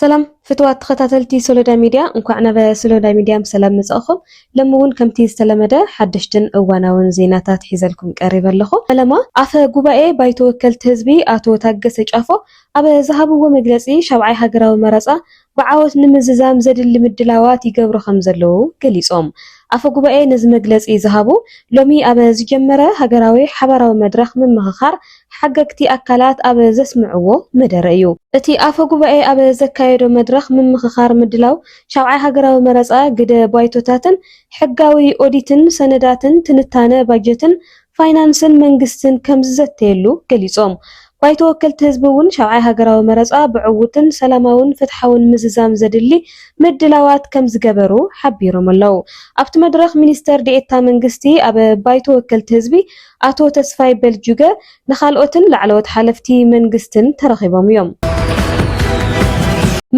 ሰላም ፍትዋት ተኸታተልቲ ሶሎዳ ሚድያ እንኳዕ ናብ ሶሎዳ ሚድያ ብሰላም መፃእኹም። ሎሚ እውን ከምቲ ዝተለመደ ሓደሽትን እዋናውን ዜናታት ሒዘልኩም ቀሪበ ኣለኹ። ፈለማ ኣፈ ጉባኤ ባይቶ ወከልቲ ህዝቢ ኣቶ ታገሰ ጫፎ ኣብ ዝሃብዎ መግለፂ ሻብዓይ ሃገራዊ መረፃ ብዓወት ንምዝዛም ዘድሊ ምድላዋት ይገብሩ ከምዘለዉ ገሊፆም። ኣፈ ጉባኤ ነዚ መግለፂ ዝሃቡ ሎሚ ኣብ ዝጀመረ ሃገራዊ ሓባራዊ መድረኽ ምምኽኻር ሓገግቲ ኣካላት ኣብ ዘስምዕዎ መደረ እዩ። እቲ ኣፈ ጉባኤ ኣብ ዘካየዶ መድረኽ ምምኽኻር ምድላው ሻብዓይ ሃገራዊ መረፃ፣ ግደ ባይቶታትን ሕጋዊ ኦዲትን ሰነዳትን፣ ትንታነ ባጀትን ፋይናንስን መንግስትን ከምዝዘተየሉ ገሊፆም። ባይቶ ወከልቲ ህዝቢ እውን ሻብዓይ ሃገራዊ መረፃ ብዕዉትን ሰላማውን ፍትሓውን ምዝዛም ዘድሊ ምድላዋት ከምዝገበሩ ሓቢሮም ኣለው። ኣብቲ መድረኽ ሚኒስትር ዴኤታ መንግስቲ ኣብ ባይቶ ወከልቲ ህዝቢ ኣቶ ተስፋይ በልጁገ ንካልኦትን ላዕለዎት ሓለፍቲ መንግስትን ተረኺቦም እዮም።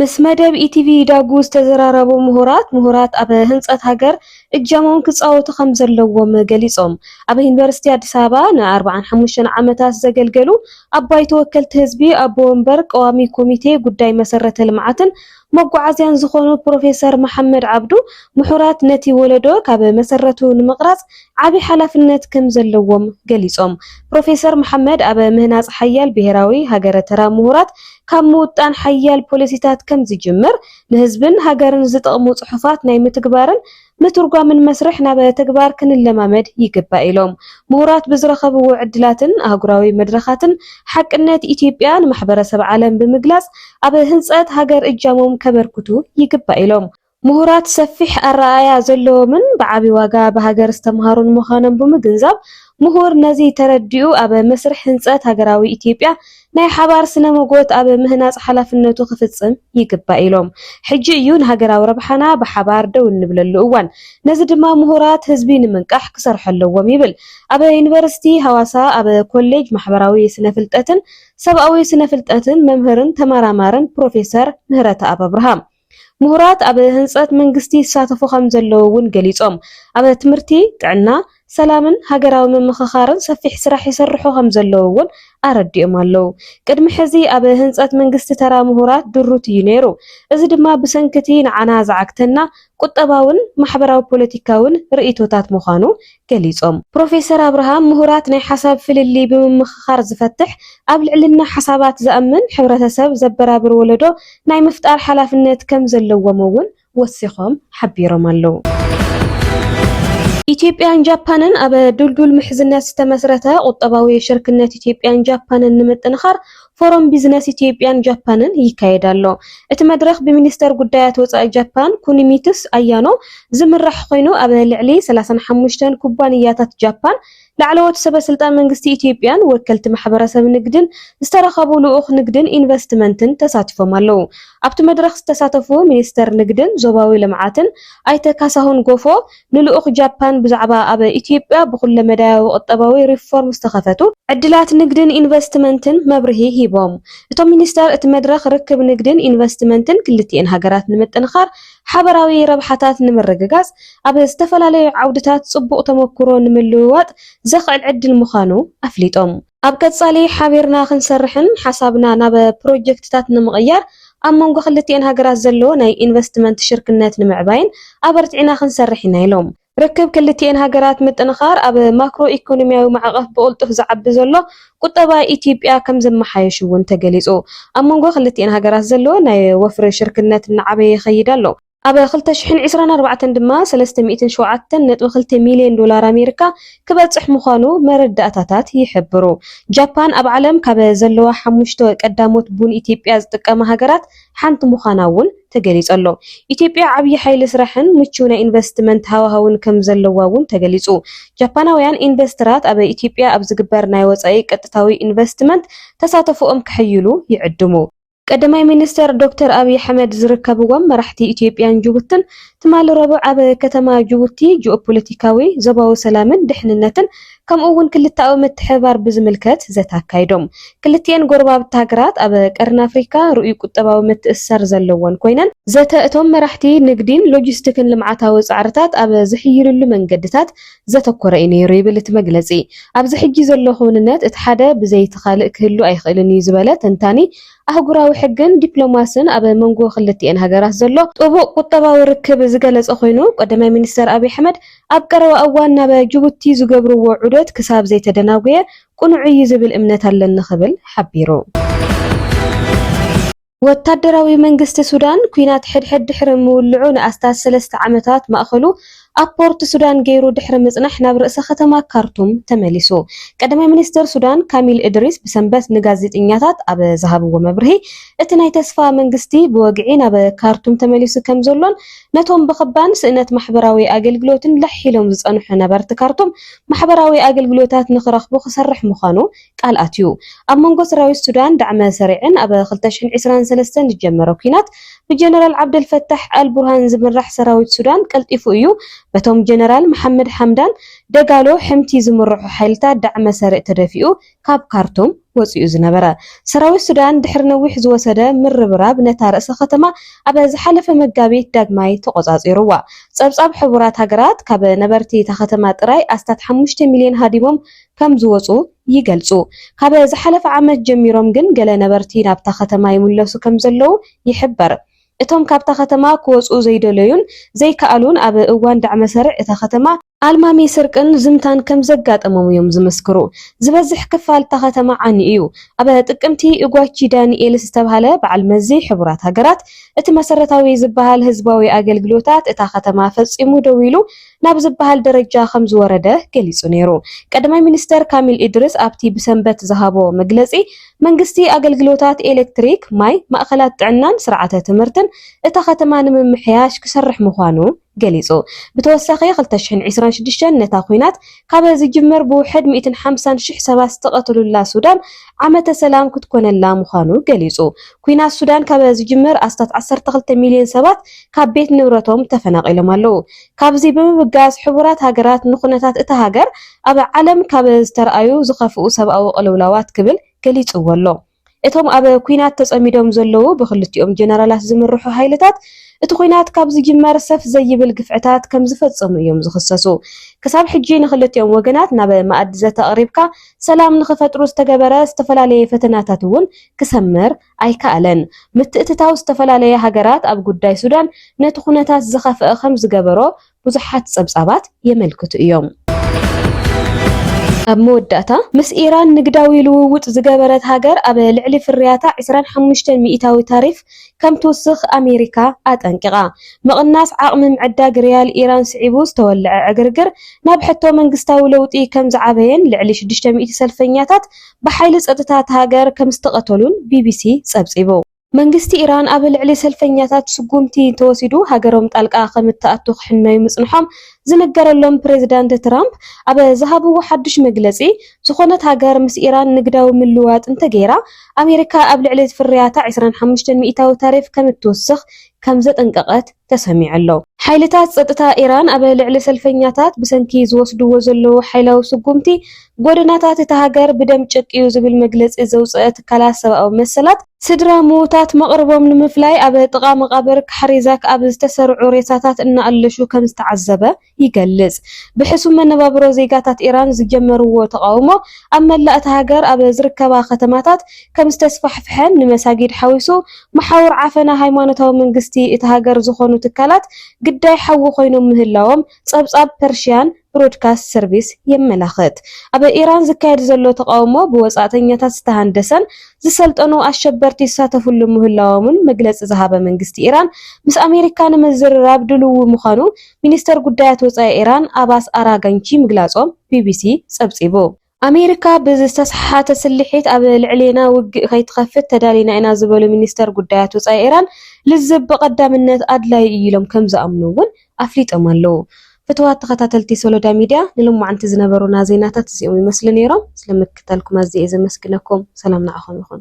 ምስ መደብ ኢቲቪ ዳጉ ዝተዘራረቡ ምሁራት፣ ምሁራት ኣብ ህንፀት ሃገር እጃሞም ክፃወቱ ከምዘለዎም ገሊፆም። ኣብ ዩኒቨርሲቲ ኣዲስ ኣበባ ን ኣርብዓን ሓሙሽተን ዓመታት ዘገልገሉ ኣብ ባይቶ ወከልቲ ህዝቢ ኣቦ ወንበር ቀዋሚ ኮሚቴ ጉዳይ መሰረተ ልምዓትን መጓዓዝያን ዝኾኑ ፕሮፌሰር መሓመድ ዓብዱ ምሁራት ነቲ ወለዶ ካብ መሰረቱ ንምቕራፅ ዓብይ ሓላፍነት ከምዘለዎም ገሊፆም። ፕሮፌሰር መሓመድ ኣብ ምህናፅ ሓያል ብሄራዊ ሃገረ ተራ ምሁራት ካብ ምውጣን ሓያል ፖሊሲታት ከምዝጅምር ንህዝብን ሃገርን ዝጠቕሙ ፅሑፋት ናይ ምትግባርን ምትርጓምን መስርሕ ናብ ተግባር ክንለማመድ ይግባእ ኢሎም። ምሁራት ብዝረኸብዎ ዕድላትን ኣህጉራዊ መድረኻትን ሓቅነት ኢትዮጵያ ንማሕበረሰብ ዓለም ብምግላፅ ኣብ ህንፀት ሃገር እጃሞም ከበርክቱ ይግባእ ኢሎም። ምሁራት ሰፊሕ ኣረኣእያ ዘለዎምን ብዓብዪ ዋጋ ብሃገር ዝተምሃሩን ምዃኖም ብምግንዛብ፣ ምሁር ነዚ ተረዲኡ ኣብ መስርሕ ህንፀት ሃገራዊ ኢትዮጵያ ናይ ሓባር ስነ-ሞጎት ኣብ ምህናጽ ሓላፍነቱ ክፍጽም ይግባእ ኢሎም። ሕጂ እዩ ንሃገራዊ ረብሓና ብሓባር ደው እንብለሉ እዋን። ነዚ ድማ ምሁራት ህዝቢ ንምንቃሕ ክሰርሑ ኣለዎም ይብል ኣብ ዩኒቨርሲቲ ሃዋሳ ኣብ ኮሌጅ ማሕበራዊ ስነ-ፍልጠትን ሰብኣዊ ስነ-ፍልጠትን መምህርን ተመራማርን ፕሮፌሰር ምህረተኣብ ኣብርሃም። ምሁራት ኣብ ህንፀት መንግስቲ ይሳተፉ ከምዘለዉ እውን ገሊፆም። ኣብ ትምህርቲ፣ ጥዕና፣ ሰላምን ሃገራዊ ምምኽኻርን ሰፊሕ ስራሕ ይስርሑ ከምዘለዉ እውን ኣረዲኦም ኣለው። ቅድሚ ሕዚ ኣብ ህንፀት መንግስቲ ተራ ምሁራት ድሩት እዩ ነይሩ። እዚ ድማ ብሰንኪ እቲ ንዓና ዝዓግተና ቁጠባውን ማሕበራዊ ፖለቲካውን ርእይቶታት ምዃኑ ገሊፆም። ፕሮፌሰር ኣብርሃም ምሁራት ናይ ሓሳብ ፍልልይ ብምምኽኻር ዝፈትሕ፣ ኣብ ልዕልና ሓሳባት ዝኣምን፣ ሕብረተሰብ ዘበራብር ወለዶ ናይ ምፍጣር ሓላፍነት ከምዘለዎም እውን ወሲኾም ሓቢሮም ኣለው። ኢትዮጵያን ጃፓንን ኣብ ድልዱል ምሕዝነት ዝተመስረተ ቁጠባዊ ሽርክነት ኢትዮጵያን ጃፓንን ንምጥንኻር ፎረም ቢዝነስ ኢትዮጵያን ጃፓንን ይካየድ ኣሎ። እቲ መድረኽ ብሚኒስተር ጉዳያት ወጻኢ ጃፓን ኩኒሚትሱ ኣያኖ ዝምራሕ ኮይኑ ኣብ ልዕሊ ሰላሳን ሓሙሽተን ኩባንያታት ጃፓን፣ ላዕለዎት ሰበስልጣን መንግስቲ ኢትዮጵያን ወከልቲ ማሕበረሰብ ንግድን ዝተረኸቡ ልኡኽ ንግድን ኢንቨስትመንትን ተሳቲፎም ኣለው። ኣብቲ መድረኽ ዝተሳተፉ ሚኒስተር ንግድን ዞባዊ ልምዓትን ኣይተ ካሳሁን ጎፎ፣ ንልኡኽ ጃፓን ብዛዕባ ኣብ ኢትዮጵያ ብኩለመዳያዊ ቁጠባዊ ሪፎርም ዝተኸፈቱ ዕድላት ንግድን ኢንቨስትመንትን መብርሂ ሂቦም። እቶም ሚኒስተር እቲ መድረኽ ርክብ ንግድን ኢንቨስትመንትን ክልቲኤን ሃገራት ንምጥንኻር፣ ሓበራዊ ረብሓታት ንምርግጋፅ፣ ኣብ ዝተፈላለዩ ዓውድታት ፅቡቕ ተሞኩሮ ንምልውዋጥ ዘኽእል ዕድል ምዃኑ ኣፍሊጦም። ኣብ ቀፃሊ ሓቢርና ክንሰርሕን ሓሳብና ናብ ፕሮጀክትታት ንምቕያር ኣብ መንጎ ክልቲኤን ሃገራት ዘሎ ናይ ኢንቨስትመንት ሽርክነት ንምዕባይን ኣበርቲዕና ክንሰርሕ ኢና ኢሎም። ርክብ ክልቲኤን ሃገራት ምጥንኻር ኣብ ማክሮ ኢኮኖሚያዊ ማዕቐፍ ብቕልጡፍ ዝዓቢ ዘሎ ቁጠባ ኢትዮጵያ ከምዘመሓየሽ እውን ተገሊፁ። ኣብ መንጎ ክልቲኤን ሃገራት ዘሎ ናይ ወፍሪ ሽርክነት እናዓበየ ይኸይድ ኣሎ። ኣብ ክልተ ሽሕን ዕስራን ኣርባዕተን ድማ ሰለስተ ሚእትን ሸውዓተን ነጥቢ ክልተ ሚልዮን ዶላር ኣሜሪካ ክበጽሕ ምዃኑ መረዳእታታት ይሕብሩ። ጃፓን ኣብ ዓለም ካብ ዘለዋ ሓሙሽተ ቀዳሞት ቡን ኢትዮጵያ ዝጥቀማ ሃገራት ሓንቲ ምዃና'ውን ተገሊጸሎ። ኢትዮጵያ ዓብዪ ሓይሊ ስራሕን ምቹው ናይ ኢንቨስትመንት ሃዋህውን ከም ዘለዋ'ውን ተገሊጹ። ጃፓናውያን ኢንቨስተራት ኣብ ኢትዮጵያ ኣብ ዝግበር ናይ ወጻኢ ቀጥታዊ ኢንቨስትመንት ተሳተፎኦም ከሐይሉ ይዕድሙ። ቀዳማይ ሚኒስተር ዶክተር ኣብይ ኣሕመድ ዝርከብዎም መራሕቲ ኢትዮጵያን ጅቡትን ትማሊ ረቡዕ ኣብ ከተማ ጅቡቲ ጂኦፖለቲካዊ፣ ዞባዊ ሰላምን ድሕንነትን ከምኡ'ውን ክልተኣዊ ምትሕብባር ብዝምልከት ዘተ ኣካይዶም። ክልቲኤን ጎረባብቲ ሃገራት ኣብ ቀርኒ ኣፍሪካ ርኡይ ቁጠባዊ ምትእስሳር ዘለወን ኮይነን፣ ዘተ እቶም መራሕቲ ንግዲን ሎጂስቲክን ልምዓታዊ ፃዕርታት ኣብ ዝሕይልሉ መንገድታት ዘተኮረ እዩ ነይሩ ይብል እቲ መግለጺ። ኣብዚ ሕጂ ዘሎ ክውንነት እቲ ሓደ ብዘይ እቲ ካልእ ክህሉ ኣይኽእልን እዩ ዝበለ ተንታኒ ኣህጉራዊ ሕግን ዲፕሎማስን ኣብ መንጎ ክልቲኤን ሃገራት ዘሎ ጥቡቕ ቁጠባዊ ርክብ ዝገለጸ ኮይኑ፣ ቀዳማይ ሚኒስተር ኣብይ ኣሕመድ ኣብ ቀረባ እዋን ናብ ጅቡቲ ዝገብርዎ ዑደት ክሳብ ዘይተደናጉየ ቅኑዕ እዩ ዝብል እምነት ኣለኒ ክብል ሓቢሩ። ወታደራዊ መንግስቲ ሱዳን፣ ኲናት ሕድሕድ ድሕሪ ምውልዑ ንኣስታት ሰለስተ ዓመታት ማእከሉ ኣብ ፖርት ሱዳን ገይሩ ድሕሪ ምጽናሕ ናብ ርእሰ ከተማ ካርቱም ተመሊሱ። ቀዳማይ ሚኒስተር ሱዳን ካሚል እድሪስ ብሰንበት ንጋዜጠኛታት ኣብ ዝሃብዎ መብርሂ፣ እቲ ናይ ተስፋ መንግስቲ ብወግዒ ናብ ካርቱም ተመሊሱ ከምዘሎን ነቶም ብክባን ስእነት ማሕበራዊ ኣገልግሎትን ለሕ ኢሎም ዝጸንሑ ነበርቲ ካርቱም ማሕበራዊ ኣገልግሎታት ንክረኽቡ ክሰርሕ ምዃኑ ቃል ኣትዩ። ኣብ መንጎ ሰራዊት ሱዳን ዳዕመ ሰሪዕን ኣብ ክልተ ሽሕን ዕስራን ሰለስተን ዝጀመረ ኲናት ብጀነራል ዓብደል ፈታሕ ኣል ቡርሃን ዝምራሕ ሰራዊት ሱዳን ቀልጢፉ እዩ በቶም ጀነራል መሓመድ ሓምዳን ደጋሎ፣ ሕምቲ፣ ዝምርሑ ሓይልታት ዳዕመ ሰሪዕ ተደፊኡ ካብ ካርቱም ወጺኡ ዝነበረ። ሰራዊት ሱዳን ድሕሪ ነዊሕ ዝወሰደ ምርብራብ ነታ ርእሰ ከተማ ኣብ ዝሓለፈ መጋቢት ዳግማይ ተቖጻጺሩዋ። ጸብጻብ ሕቡራት ሃገራት ካብ ነበርቲ እታ ከተማ ጥራይ ኣስታት ሓሙሽተ ሚልዮን ሃዲሞም ከምዝወጹ ይገልጹ። ካብ ዝሓለፈ ዓመት ጀሚሮም ግን ገለ ነበርቲ ናብታ ከተማ ይምለሱ ከምዘለዉ ይሕበር። እቶም ካብታ ከተማ ክወጹ ዘይደለዩን ዘይከኣሉን ኣብ እዋን ዳዕመ-ሰርዕ እታ ከተማ፣ ኣልማሚ ስርቅን ዝምታን ከምዘጋጠሞም እዮም ዝምስክሩ። ዝበዝሕ ክፋል እታ ከተማ ዓኒ እዩ። ኣብ ጥቅምቲ ኡጓቺ ዳኒኤልስ ዝተብሃለ በዓል መዚ ሕቡራት ሃገራት፣ እቲ መሰረታዊ ዝበሃል ህዝባዊ ኣገልግሎታት እታ ከተማ ፈጺሙ ደው ኢሉ ናብ ዝበሃል ደረጃ ከምዝወረደ ገሊጹ ነይሩ። ቀዳማይ ሚኒስተር ካሚል ኢድሪስ ኣብቲ ብሰንበት ዝሃቦ መግለጺ፣ መንግስቲ ኣገልግሎታት ኤለክትሪክ፣ ማይ፣ ማእከላት ጥዕናን ስርዓተ ትምህርትን እታ ከተማ ንምምሕያሽ ክሰርሕ ምዃኑ ገሊጹ። ብተወሳኺ ክልተ ሽሕን ዕስራን ሽዱሽተን ነታ ኲናት ካብ ዝጅመር ብውሕድ ሚእትን ሓምሳን ሽሕ ሰባት ዝተቐትሉላ ሱዳን ዓመተ ሰላም ክትኮነላ ምዃኑ ገሊጹ። ኲናት ሱዳን ካብ ዝጅመር ኣስታት ዓሰርተ ክልተ ሚልዮን ሰባት ካብ ቤት ንብረቶም ተፈናቒሎም ኣለዉ። ካብዚ ብምብጋስ ሕቡራት ሃገራት ንኩነታት እታ ሃገር ኣብ ዓለም ካብ ዝተርኣዩ ዝኸፍኡ ሰብኣዊ ቅልውላዋት ክብል ገሊጽዎ ኣሎ። እቶም ኣብ ኲናት ተጸሚዶም ዘለዉ ብክልቲኦም ጀነራላት ዝምርሑ ሃይልታት እቲ ኲናት ካብ ዝጅመር ሰፍ ዘይብል ግፍዕታት ከምዝፈጸሙ እዮም ዝኽሰሱ። ክሳብ ሕጂ ንክልቲኦም ወገናት ናብ መኣዲ ዘተ ኣቕሪብካ ሰላም ንኽፈጥሩ ዝተገበረ ዝተፈላለየ ፈተናታት'ውን ክሰምር ኣይከኣለን። ምትእትታው ዝተፈላለያ ሃገራት ኣብ ጉዳይ ሱዳን ነቲ ኩነታት ዝኸፍኣ ከም ዝገበሮ ብዙሓት ጸብጻባት የመልክቱ እዮም። ኣብ መወዳእታ፣ ምስ ኢራን ንግዳዊ ልውውጥ ዝገበረት ሃገር ኣብ ልዕሊ ፍርያታ ዕስራን ሓሙሽተን ሚእታዊ ታሪፍ ከም ትውስኽ ኣሜሪካ ኣጠንቂቓ። ምቕናስ ዓቕሚ ምዕዳግ ሪያል ኢራን ስዒቡ ዝተወልዐ ዕግርግር ናብ ሕቶ መንግስታዊ ለውጢ ከም ዝዓበየን ልዕሊ ሽዱሽተ ሚእቲ ሰልፈኛታት ብሓይሊ ጸጥታ እታ ሃገር ከምዝተቐተሉን ቢቢሲ ጸብጺቡ። መንግስቲ ኢራን ኣብ ልዕሊ ሰልፈኛታት ስጉምቲ እንተወሲዱ ሃገሮም ጣልቃ ከምትኣቱ ክሕነዩ ምጽንሖም ዝንገረሎም ፕሬዝዳንት ትራምፕ ኣብ ዝሃብዎ ሓዱሽ መግለጺ ዝኾነት ሃገር ምስ ኢራን ንግዳዊ ምልውዋጥ እንተገይራ ኣሜሪካ ኣብ ልዕሊ ፍርያታ ዕስራን ሓሙሽተን ሚኢታዊ ታሪፍ ከምትውስኽ ከምዘጠንቀቐት ተሰሚዑ ኣሎ። ሓይልታት ጸጥታ ኢራን ኣብ ልዕሊ ሰልፈኛታት ብሰንኪ ዝወስድዎ ዘለዉ ሓይላዊ ስጉምቲ ጎደናታት እታ ሃገር ብደም ጨቅዩ ዝብል መግለጺ ዘውጸኣ ትካላት ሰብኣዊ መሰላት፣ ስድራ ምዉታት መቕርቦም ንምፍላይ ኣብ ጥቓ መቓብር ካሕሪዛክ ኣብ ዝተሰርዑ ሬሳታት እናኣለሹ ከምዝተዓዘበ ይገልጽ። ብሕሱም መነባብሮ ዜጋታት ኢራን ዝጀመርዎ ተቓውሞ ኣብ መላእ እታ ሃገር ኣብ ዝርከባ ከተማታት ከምዝተስፋሕፍሐን ንመሳጊድ ሓዊሱ መሓውር ዓፈና ሃይማኖታዊ መንግስቲ እታ ሃገር ዝኾኑ ትካላት ግዳይ ሓዊ ኮይኖም ምህላዎም ጸብጻብ ፐርሺያን ብሮድካስት ሰርቪስ የመላኽት። ኣብ ኢራን ዝካየድ ዘሎ ተቓውሞ ብወጻእተኛታት ዝተሃንደሰን ዝሰልጠኑ ኣሸበርቲ ይሳተፍሉ ምህላዎምን መግለጺ ዝሃበ መንግስቲ ኢራን ምስ ኣሜሪካ ንምዝርራብ ድልዊ ምዃኑ ሚኒስተር ጉዳያት ወጻኢ ኢራን ኣባስ ኣራጋንቺ ምግላጾም ቢቢሲ ጸብጺቡ። ኣሜሪካ ብዝተሰሓሓተ ስልሒት ኣብ ልዕሌና ውግእ ከይትኸፍት ተዳሊና ኢና ዝበሉ ሚኒስተር ጉዳያት ወጻኢ ኢራን፣ ልዝብ ብቐዳምነት ኣድላዪ እዩ ኢሎም ከምዝኣምኑ'ውን ኣፍሊጦም ኣለዉ። ፍቱዋት ተኸታተልቲ ሶሎዳ ሚድያ ንሎማዕንቲ ዝነበሩና ዜናታት እዚኦም ይመስሉ ነይሮም። ስለምክትታልኩም ኣዝየ እየ ዘመስግነኩም። ሰላም ንዓኹም ይኹን።